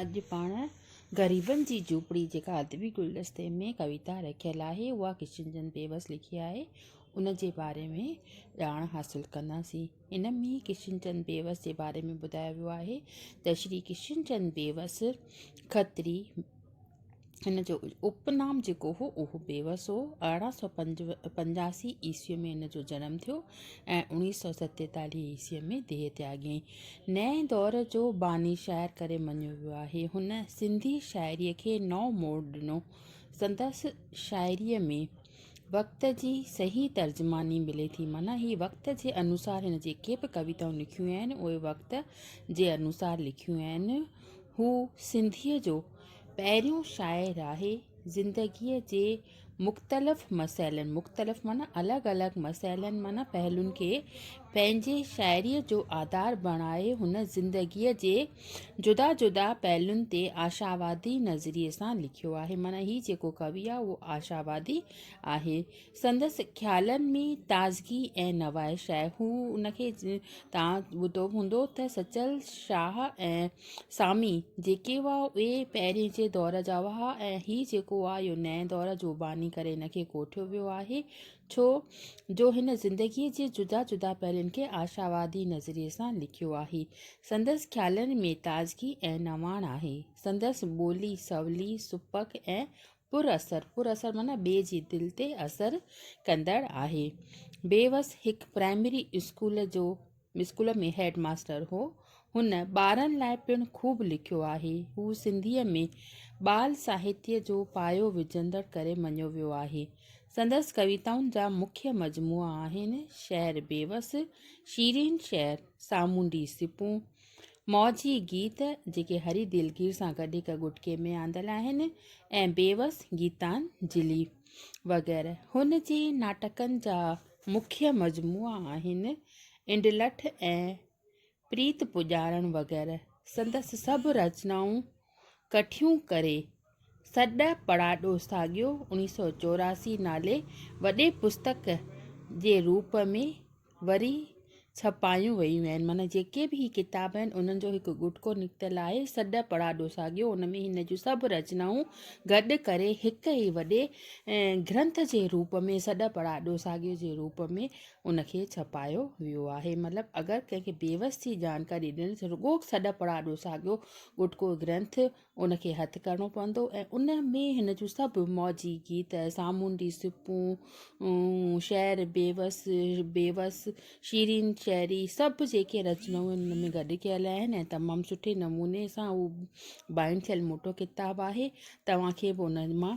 اڄ پاڻ غريبن جي جهوپڙي جيڪا ادبي گلدستي ۾ ڪويتا رکيل آهي اها ڪشن چند بيوس لکي آهي ان جي باري ۾ ڄاڻ حاصل ڪنداسين ان ۾ ڪشن چند بيوس جي باري ۾ ٻڌايو ويو آهي ته شري ڪشن چند بيوس کتري هن جو اپنام جيڪو هو اهو بيوس هو. ارڙهن سؤ پنجاسي عيسويء ۾ هن جو جنم ٿيو ۽ اوڻيهه سؤ ستيتاليهه عيسويء ۾ ديهه تياڳيائين. نئين دور جو باني شاعر ڪري مڃيو ويو آهي. هن سنڌي شاعريء کي نئون موڙ ڏنو. سندس شاعريء ۾ وقت جي صحيح ترجماني ملي ٿي. معنيٰ هي وقت جي انوسار هن جيڪي به ڪويتائون لکيون آهن، اهي وقت جي انوسار لکيون آهن. هو سنڌيء جو پهريون شاعر آهي زندگيء جي مختلف مسئلن، مختلف معنيٰ الڳ الڳ مسئلن معنيٰ پهلون کي پنهنجي شاعريء جو آڌار بڻائي هن زندگيء جي جدا جدا پهلون تي آشاوادي نظريي سان لکيو آهي معنيٰ هي جيڪو ڪوي آهي اهو آشاوادي آهي سندس خيالن ۾ تازگي ۽ نوائش آهي. هو ان کي توهان ٻڌو به هوندو ته سچل شاهه ۽ سامي جيڪي هئا اهي پهرين جي دور جا هئا ۽ هي جيڪو آهي اهو نئين دور جو باني ڪري هن کي ڪوٺيو ويو آهي ڇو جو هن زندگي جي جدا جدا پهلوئن کي آشاوادي نظرئي سان لکيو آهي. سندس خيالن ۾ تازگي ۽ نواڻ آهي. سندس ٻولي سولي، سپڪ ۽ پر اثر، پر اثر معنيٰ ٻئي جي دل تي اثر ڪندڙ آهي. بيوس هڪ پرائمري اسڪول جو اسڪول ۾ هيڊ ماستر هو. هن ٻارن لاء پڻ خوب لکيو آهي. هو سنڌيء ۾ ٻال ساهتيه جو پايو وجهندڙ ڪري مڃيو ويو آهي. سندس ڪويتائن جا مکيه مجموعا آهن، شهر بيوس، شيرين شهر، سامونڊي سپون، موجي گيت جيڪي هري دلگير سان گڏ هڪ ڳٽڪي ۾ آندل آهن ۽ بيوس، گيتانجلي وغيره هن جي ناٽڪن جا مکيه مجموعا آهن. انڊلٺ ۽ پريت پڄارڻ وغيره سندس سڀ رچنائون ڪٺيون ڪري، سڏ پڙاڏو ساڳيو اڻيهه سؤ چوراسي نالي وڏي پستڪ جي روپ ۾ وري ڇپايون ويون آهن. معنيٰ جيڪي به هي ڪتاب آهن، انهن جو هڪ ڳوٺڪو نڪتل آهي، سڏ پڙاڏو ساڳيو، ان ۾ هن جون سڀ رچنائون گڏ ڪري هڪ ئي وڏي گرنٿ جي روپ ۾ سڏ پڙاڏو ساڳيو جي روپ ۾ ان کي ڇپايو ويو آهي. مطلب اگر ڪنهن کي بيوس ٿي جانڪاري ڏيڻ ته رڳو سڏ پڙ آڏو ساڳيو ڳوٺڪو گرنٿ ان کي هٿ ڪرڻو پوندو ۽ ان ۾ هن جون سڀ موجي گيت، سامونڊي سپون، شعر، بيوس، بيوس، شيرين شعري سڀ جيڪي رچنائون آهن ان ۾ گڏ ڪيل آهن ۽ تمام سٺي نموني سان هو بائنڊ ٿيل موٽو ڪتاب آهي. توهان کي به ان مان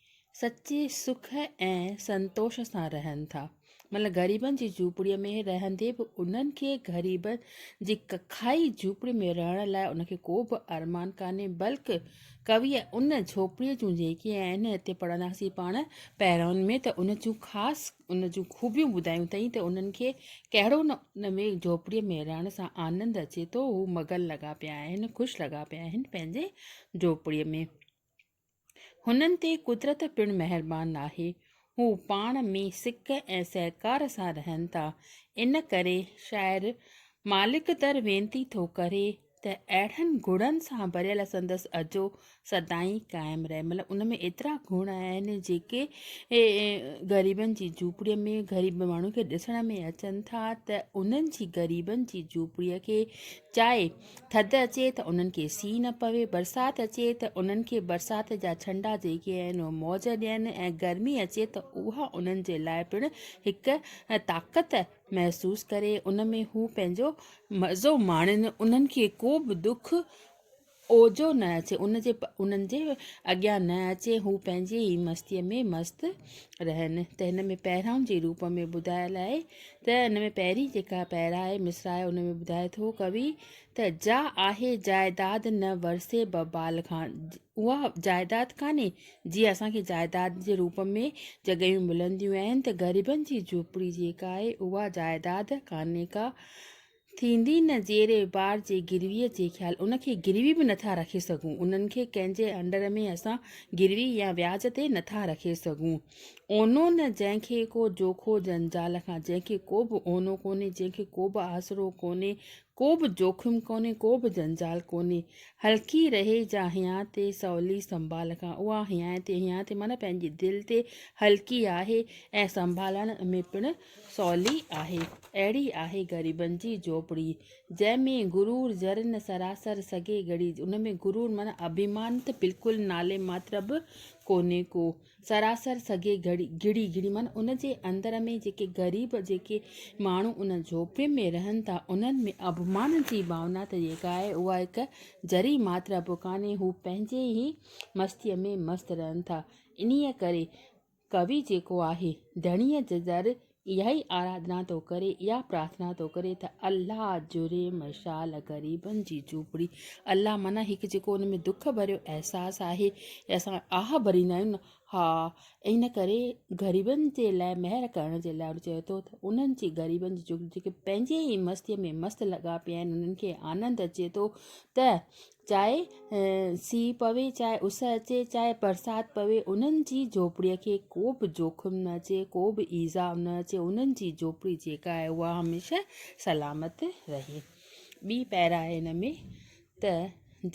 سچي سک ۽ سنتوش سان رهن ٿا. مطلب غريبن جي جهوپڙيء ۾ رهندي به انهن کي غريبن جي ڪکائي جهوپڙي ۾ رهڻ لاء ان کي ڪو به ارمان ڪانهي بلڪ ڪويء ان جهوپڙيء جون جيڪي آهن هتي پڙهنداسين پاڻ پهرائن ۾ ته ان جون خاص ان جون خوبيون ٻڌايون اٿئي ته انهن کي ڪهڙو نه ان ۾ جهوپڙيء ۾ رهڻ سان آنند اچي ٿو هو مگن لڳا پيا آهن خوش لڳا پيا آهن پنهنجي جهوپڙيء ۾. هنن تي قدرت پڻ مهربان آهي. هو پاڻ ۾ سڪ ۽ سهڪار سان رهن ٿا. ان ڪري شاعر مالڪ در وينتي ٿو ڪري ته اهڙن گڻن سان ڀريل سندس اجهو سدائين قائم رهي. مطلب ان ۾ ايترا گڻ آهن جيڪي غريبن جي جهوپڙي ۾ غريب ماڻهن کي ڏسڻ ۾ اچن ٿا ته انهن جي غريبن جي جهوپڙي کي چائي ٿڌ اچي ته انهن کي سي نه پوي، برسات اچي ته انهن کي برسات جا ڇنڊا جيڪي آهن اهي موج ڏين ۽ گرمي اچي ته اها انهن جي لاء پڻ هڪ طاقت محسوس ڪري ان ۾ هو پنهنجو مزو ماڻين انهن کي ڪو به دک اوجهو نه اچي ان جي انهن جي اڳيان نه اچي هو پنهنجي ئي مستيء ۾ مست رهن ته هن ۾ پهرائون جي روپ ۾ ٻڌايل آهي ته ان ۾ پهرين جيڪا پيرا آهي، مصرع آهي، ان ۾ ٻڌائي ٿو ڪوي ته، جا آهي جائداد نه ورثي به بال کان، اها جائداد ڪانهي، جيئن اسان کي جائداد جي روپ ۾ جڳهيون ملنديون آهن ته غريبن جي جهوپڙي جيڪا آهي، اها جائداد ڪانهي ڪا، ٿيندي نه زير بار جي گروي جي خيال ان کي گروي به نٿا رکي سگهون انهن کي ڪنهن جي انڊر ۾ اسان گروي يا وياج تي نٿا رکي سگهون اونو نه جنهن کي ڪو جوکو جنجال کان جنهن کي ڪو به اونو ڪونهي جنهن کي ڪو به آسرو ڪونهي ڪو به جوکم ڪونهي ڪو به جنجال ڪونهي هلڪي رهي جا هيانء تي سولي سنڀال کان اها هيانء تي هيانء تي معنيٰ پنهنجي دل تي هلڪي آهي ۽ سنڀالڻ ۾ پڻ سولي آهي اهڙي آهي غريبن جي جهوپڙي جنهن ۾ غرور ذرن سراسر سگهي ڳڙي ان ۾ غرور معنيٰ اڀيمان ته بلڪل نالي ماتر به ڪونهي ڪو سراسر سگهي ڳڙي ڳڙي معنيٰ ان جي اندر ۾ جيڪي غريب جيڪي ماڻهو ان جهوپڙين ۾ رهن ٿا انهن ۾ اڀيمان جي ڀاونا ته جيڪا آهي اها هڪ ذري ماتر به ڪانهي هو پنهنجي ئي مستيء ۾ مست رهن ٿا انهيء ڪري ڪوي جيڪو آهي، ڌڻيء جي در، اها ئي آراڌنا ٿو ڪري، اها پرارٿنا ٿو ڪري ته الله جري مشال غريبن جي جهوپڙي. الله معنيٰ هڪ جيڪو ان ۾ دک ڀريو احساس آهي ۽ اسان آهه ڀريندا آهيون نه، ها، ان ڪري غريبن جي لاء مهر ڪرڻ جي لاء چيو اٿو ته انهن جي، غريبن جي، جيڪي پنهنجي ئي مستيء ۾ مست لڳا پيا آهن، انهن کي آنند اچي ٿو ته چاهي سيء پوي، چاهي اس اچي، چاهي برسات پوي، انهن جي جهوپڙيء کي ڪو به جوکم نه اچي، ڪو به ايذاء نه اچي، انهن جي جهوپڙي جيڪا آهي اها هميشه سلامت رهي. ٻي پيرا آهي ان ۾ ته،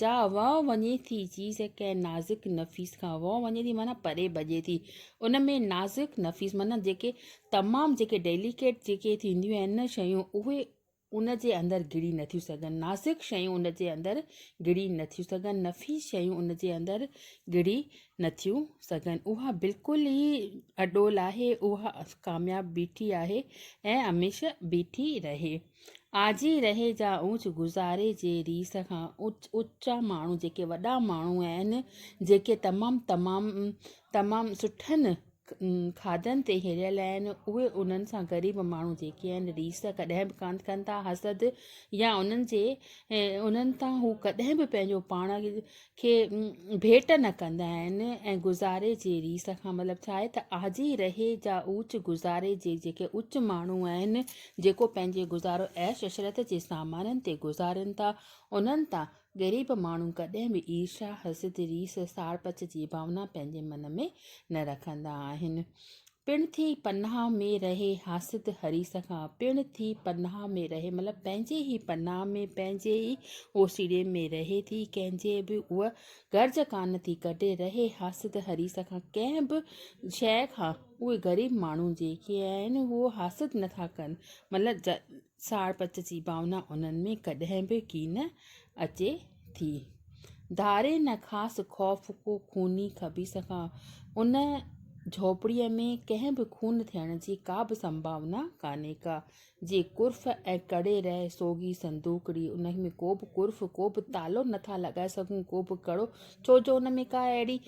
جا وئو وڃي ٿي چيز ڪنهن نازڪ نفيس کان، وئو وڃي ٿي معنيٰ پري ڀڄي ٿي، ان ۾ نازڪ نفيس معنيٰ جيڪي تمام جيڪي ڊيليڪيٽ جيڪي ٿينديون آهن نه شيون اهي ان جي اندر گهڙي نه ٿيون سگهن، ناسخ شيون ان جي اندر گهڙي نه ٿيون سگهن، نفي شيون ان جي اندر گهڙي نه ٿيون سگهن. اها بلڪل ئي اڏول آهي، اها ڪامياب بيٺي آهي ۽ هميشه بيٺي رهي. آجي رهي جا اوچ گذاري جي ريس کان اوچا ماڻهو جيڪي وڏا ماڻهو آهن، جيڪي تمام تمام تمام سٺن کاڌن تي هيريل آهن، اهي انهن سان غريب ماڻهو جيڪي آهن، ريس ڪڏهن به ڪانه ڪن ٿا، حسد يا انهن جي انهن تان هو ڪڏهن به پنهنجو پاڻ کي ڀيٽ نه ڪندا آهن ۽ گذاري جي ريس کان مطلب ڇا آهي ته آجي رهي جا اوچ گذاري جي جيڪي اوچ ماڻهو آهن، جيڪو پنهنجي گذارو عيش عشرت جي سامانن تي گذارين ٿا، انهن تان غريب ماڻهو ڪڏهن به عيرشا، حسد، ريس، ساڙپچ جي ڀاونا پنهنجي من ۾ نه رکندا آهن. پڻ ٿي پناهه ۾ رهي حاسد حريص کان. پڻ ٿي پناهه ۾ رهي مطلب پنهنجي ئي پناهه ۾ پنهنجي ئي اوسيڙي ۾ رهي ٿي ڪنهن جي به اها غرض ڪانه ٿي ڪڍي رهي حاسد حريص کان ڪنهن به شيء کان اهي غريب ماڻهو جيڪي آهن اهو حاسد نٿا ڪن مطلب ساڙپت جي ڀاونا انهن ۾ ڪڏهن به ڪين اچي ٿي. ڌاري نه خاص خوف ڪو خوني خبيث کان. ان جهوپڙيء ۾ ڪنهن به خون ٿيڻ جي ڪا به سنڀاونا ڪانهي ڪا. جي قرف ۽ ڪڙي رهي سوگهي صندوقڙي. ان ۾ ڪو به قرف، ڪو به تالو نه ٿا لڳائي سگهون، ڪو به ڪڙو، ڇو جو ان ۾ ڪا اهڙي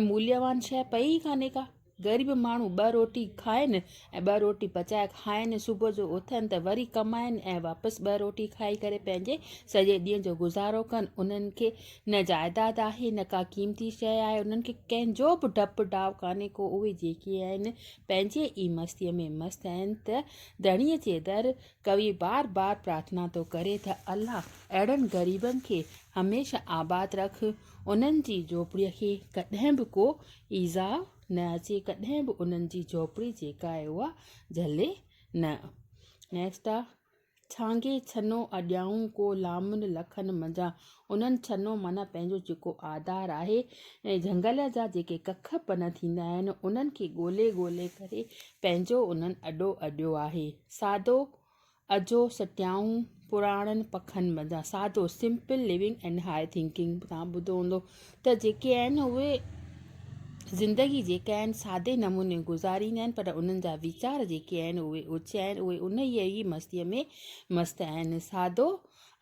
موليوان شيء پئي ئي ڪانهي ڪا. غريب ماڻهو ٻه روٽي کائين ۽ ٻه روٽي پچائي کائين، صبح جو اٿن ته وري ڪمائين ۽ واپس ٻه روٽي کائي ڪري پنهنجي سڄي ڏينهن جو گذارو ڪن. انهن کي نه جائداد آهي نه ڪا قيمتي شيء آهي، انهن کي ڪنهن جو به ڊپ ڊاء ڪانهي ڪو، اهي جيڪي آهن پنهنجي ئي مستيء ۾ مست آهن ته ڌڻيء جي در ڪوي بار بار پرارٿنا ٿو ڪري ته الله اهڙن غريبن کي هميشه آباد رک، انهن جي جهوپڙيء کي ڪڏهن به ڪو ايذاء نه اچي ڪڏهن به انهن جي جهوپڙي جيڪا آهي اها جهلي نه. Next آ ڇانگي ڇنو اڏيائون ڪو لامن لکن منجهان انهن ڇنو معنيٰ پنهنجو جيڪو آڌار آهي ۽ جهنگل جا جيڪي ڪک پنهه ٿيندا آهن انهن کي ڳولي ڳولي ڪري پنهنجو انهن اڏو اڏيو آهي سادو اجهو سٽيائون پراڻن پکن بدان سادو simple living and high thinking توهان ٻڌو هوندو ته جيڪي آهن اهي زندگي جيڪا آهن سادي نموني گذاريندا آهن پر انهن جا ويچار جيڪي آهن اهي اوچا آهن اهي انهيء ئي مستيء ۾ مست آهن سادو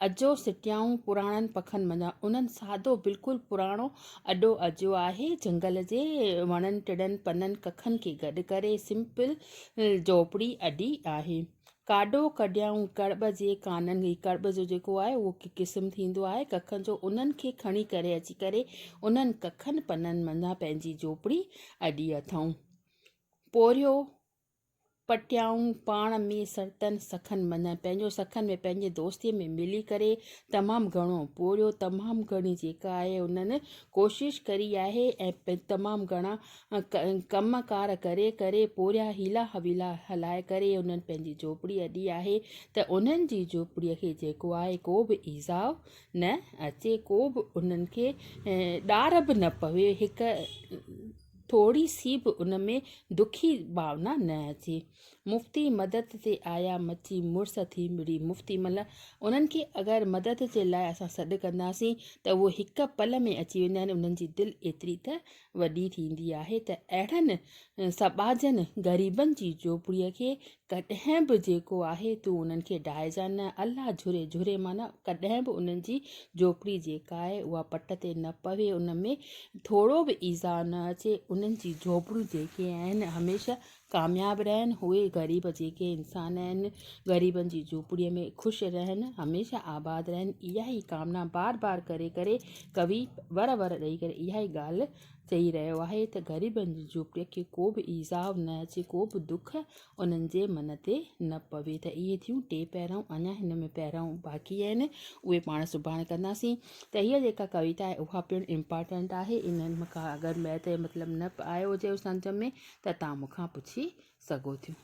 اجهو سٽيائون پراڻن پکن منجهان انهن سادو بلڪل پراڻو اڏو اجهو آهي جهنگل جي وڻن ٽڙن پنن ڪکن کي گڏ ڪري سمپل جهوپڙي اڏي آهي ڪاڏو ڪڏيائون ڪڙٻ جي ڪانن جي ڪڙٻ جو جيڪو آهي اهو قسم ٿيندو آهي ڪکن جو انهن کي کڻي ڪري اچي ڪري انهن ڪکن پنن منجهان پنهنجي جهوپڙي اڏي اٿائون پورهيو پٽيائون پاڻ ۾ سرتن سکن مڃان پنهنجو سکن ۾ پنهنجي دوستي ۾ ملي ڪري تمام گهڻو پورهيو تمام گهڻي جيڪا آهي انهن ڪوشش ڪري آهي ۽ تمام گهڻا ڪم ڪار ڪري ڪري پورهيا حيلا حويلا هلائي ڪري انهن پنهنجي جهوپڙي اڏي آهي ته انهن جي جهوپڙي کي جيڪو آهي ڪو به ايذاء نه اچي ڪو به انهن کي ڏار به نه پوي هڪ ٿوري سي به ان ۾ دکي ڀاونا نه اچي. مفتي مدد تي آيا مچي مڙس ٿي مڙي مفتي مل انهن کي اگر مدد جي لاء اسان سڏ ڪنداسين ته اهي هڪ پل ۾ اچي ويندا آهن انهن جي دل ايتري ته وڏي ٿيندي آهي ته اهڙن سٻاجهن غريبن جي جهوپڙي کي ڪڏهن به جيڪو آهي تون انهن کي ڊاهيجان نه. الله جهري، جهري معنيٰ ڪڏهن به انهن جي جهوپڙي جيڪا آهي اها پٽ تي نه پوي، ان ۾ ٿورو به ايذاء نه اچي، انهن جي جهوپڙيون جيڪي آهن هميشه ڪامياب رهن، اهي غريب جيڪي انسان آهن غريبن جي جهوپڙيء ۾ خوش رهن، هميشه آباد رهن، اها ئي ڪامنا بار بار ڪري ڪري ڪوي ور ور ڏئي ڪري اها ئي ڳالهه چئي رهيو آهي ته غريبن جي جهوپڙين کي ڪو به ايذاء نه اچي، ڪو به دک انهن جي من تي نه پوي ته اهي ٿيون ٽي پهرائون اڃا هن ۾ پهرائون باقي آهن اهي پاڻ سڀاڻي ڪنداسين ته هيء جيڪا ڪويتا آهي اها پڻ امپارٽنٽ آهي انهن مان ڪا اگر مئي تئي مطلب نه آيو هجيو سمجهه ۾ ته توهان مون کان پڇي سگهو ٿيون.